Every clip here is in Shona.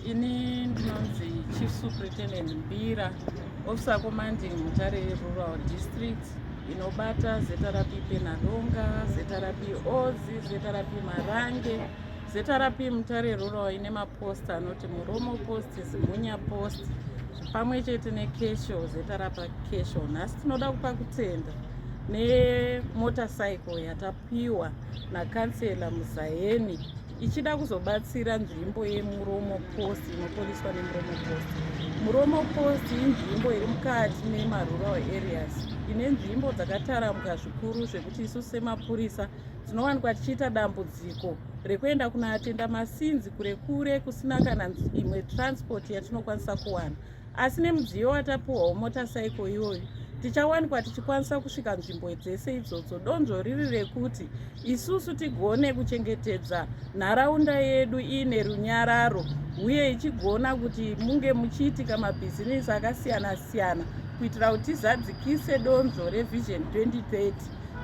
Ini ndinonzi Chief Superintendent Mbira, Officer Commanding Mutare Rural District inobata ZRP Penadonga, ZRP Ozi, ZRP Marange, ZRP Mutare Rural ine mapost anoti Muromo Post, Zimunya Post pamwe chete nekesho ZRP Kesho. Nhasi tinoda kupa kutenda nemotorcycle yatapa piwa nakansela muzayeni ichida kuzobatsira nzvimbo yemuromo post inopoliswa nemuromo post muromo post inzvimbo iri mukati memarural areas ine nzvimbo dzakataramuka zvikuru zvekuti isu semapurisa tinowanikwa tichiita dambudziko rekuenda kunoatenda masinzi kure kure kusina kana imwe transport yatinokwanisa kuwana asi nemudziyo watapuhwa wemota saiko iyoyo tichawanikwa tichikwanisa kusvika nzvimbo dzese idzodzo donzvo riri rekuti isusu tigone kuchengetedza nharaunda yedu iine runyararo uye ichigona kuti munge muchiitika mabhizinisi akasiyana-siyana kuitira kuti tizadzikise donzvo revision 2030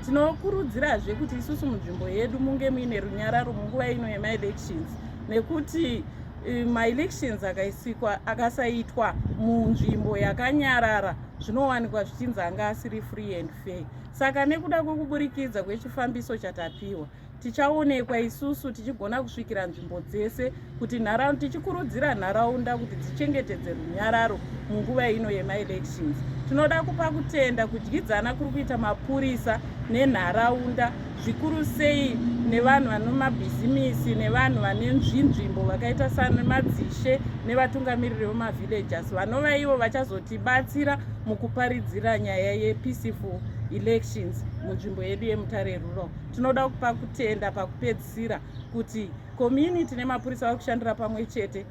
tinokurudzirazve kuti isusu munzvimbo yedu munge muine runyararo munguva ino yemaelections nekuti Eh, maelections akaisikwa akasaitwa munzvimbo yakanyarara zvinowanikwa zvichinzi anga asiri free and fair saka nekuda kwekuburikidza kwechifambiso chatapiwa tichaonekwa isusu tichigona kusvikira nzvimbo dzese kuti nharaunda tichikurudzira nharaunda kuti dzichengetedze runyararo munguva ino yemaelections tinoda kupa kutenda kudyidzana kuri kuita mapurisa nenharaunda zvikuru sei nevanhu vanomabhizimisi nevanhu vane nzvinzvimbo vakaita samadzishe nevatungamiriri vemavillagers vanova ivo vachazotibatsira mukuparidzira nyaya yepeaceful elections munzvimbo yedu yemutare rural tinoda kupa kutenda pakupedzisira kuti community nemapurisa vari kushandira pamwe chete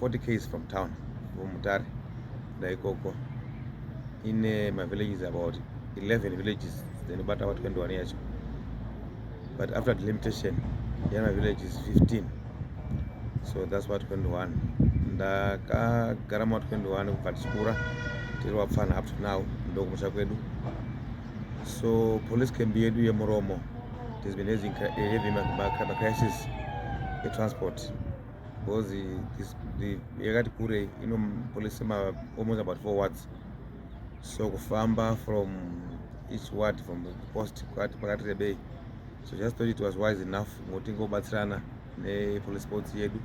40 k's from town from Mutare ndaikoko ine my villages about 11 villages then ubata wa 21 yacho but after the limitation yeah, my village is 15 so that's what 21 ndakagara ma 21 kubva tichikura tiri wapfana up to now ndokumusha kwedu so police camp yedu yemuromo has been having, having a crisis yetransport because this the yakati kure inopolisa ma almost about four words so kufamba from each word from the post kwati pakati rebei so just thought it was wise enough ngokuti ngobatsirana nepolice boats yedu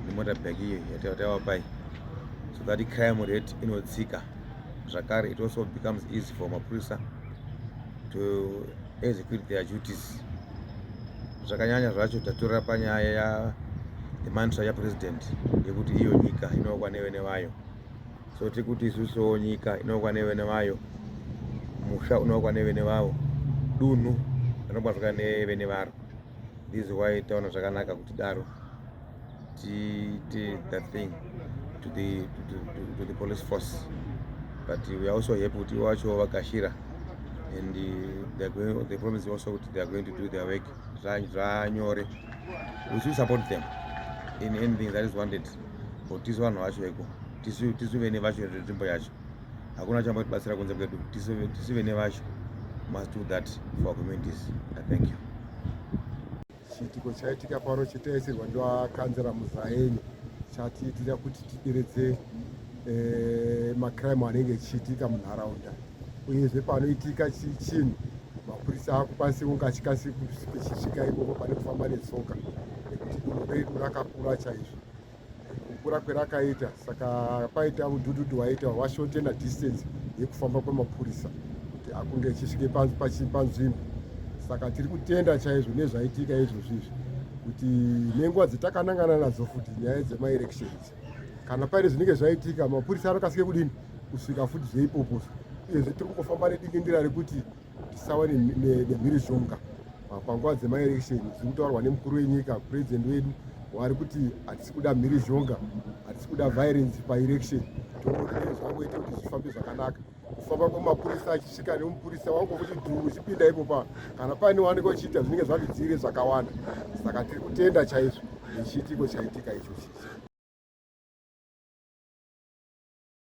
nemota bag iyo yataiwa pai so that crime rate inodzika zvakare it also becomes easy for mapurisa to execute their duties zvakanyanya zvacho tatorera panyaya ya the mantra ya president yekuti iyo nyika inookwa nevene vayo so tiri kuti isusuwo nyika inookwa nevene vayo musha unookwa nevene vavo dunhu rinobatwa nevene varo this is why taona zvakanaka kuti daro tiite that thing to the, to, to, to the police force but we are also happy kuti wacho vakashira and uh, they going, they promise also kuti they are going to do their work zvanyore we should support them in anything that is wanted but tisu vanhu vacho iko tisu tisu vene vacho nzvimbo yacho hakuna chamba kutibatsira kunze kwedu tisu vene vacho must do that for our communities thank you Chiitiko chaitika pano chitaisirwa ndivakanzera muzaeni chatiitira kuti tideredze eh, macrime anenge echiitika munharaunda uyezve panoitika chinhu mapurisa akukwanisa kunge achikasika kusvika ikoko pane kufamba netsoka nekuti dunhu redu rakakura chaizvo kukura kwerakaita saka paita udhudhudhu waita washotena distance yekufamba kwemapurisa kuti akunge achisvike panzvimbo saka tiri kutenda chaizvo nezvaitika izvozvo izvi kuti nenguva dzatakanangana nadzo futi nyaya dzemaelections kana paine zvinenge zvaitika mapurisa anokasike kudini kusvika futi zveipoposa uyezve tiri kungofamba nedingendera rekuti tisawa nemhirizhonga panguva dzemaelection zviri kutaurwa nemukuru wenyika president wedu wari kuti hatisi kuda mhirizhonga hatisi kuda violence paelection toonee zvangoita kuti zvifambe zvakanaka kufamba kwemapurisa achisvika nemupurisa wangu kuti dhuru uchipinda ipopa kana paine waanenge uchiita zvinenge zvavidzire zvakawanda saka tiri kutenda chaizvo nechiitiko chaitika ichochichi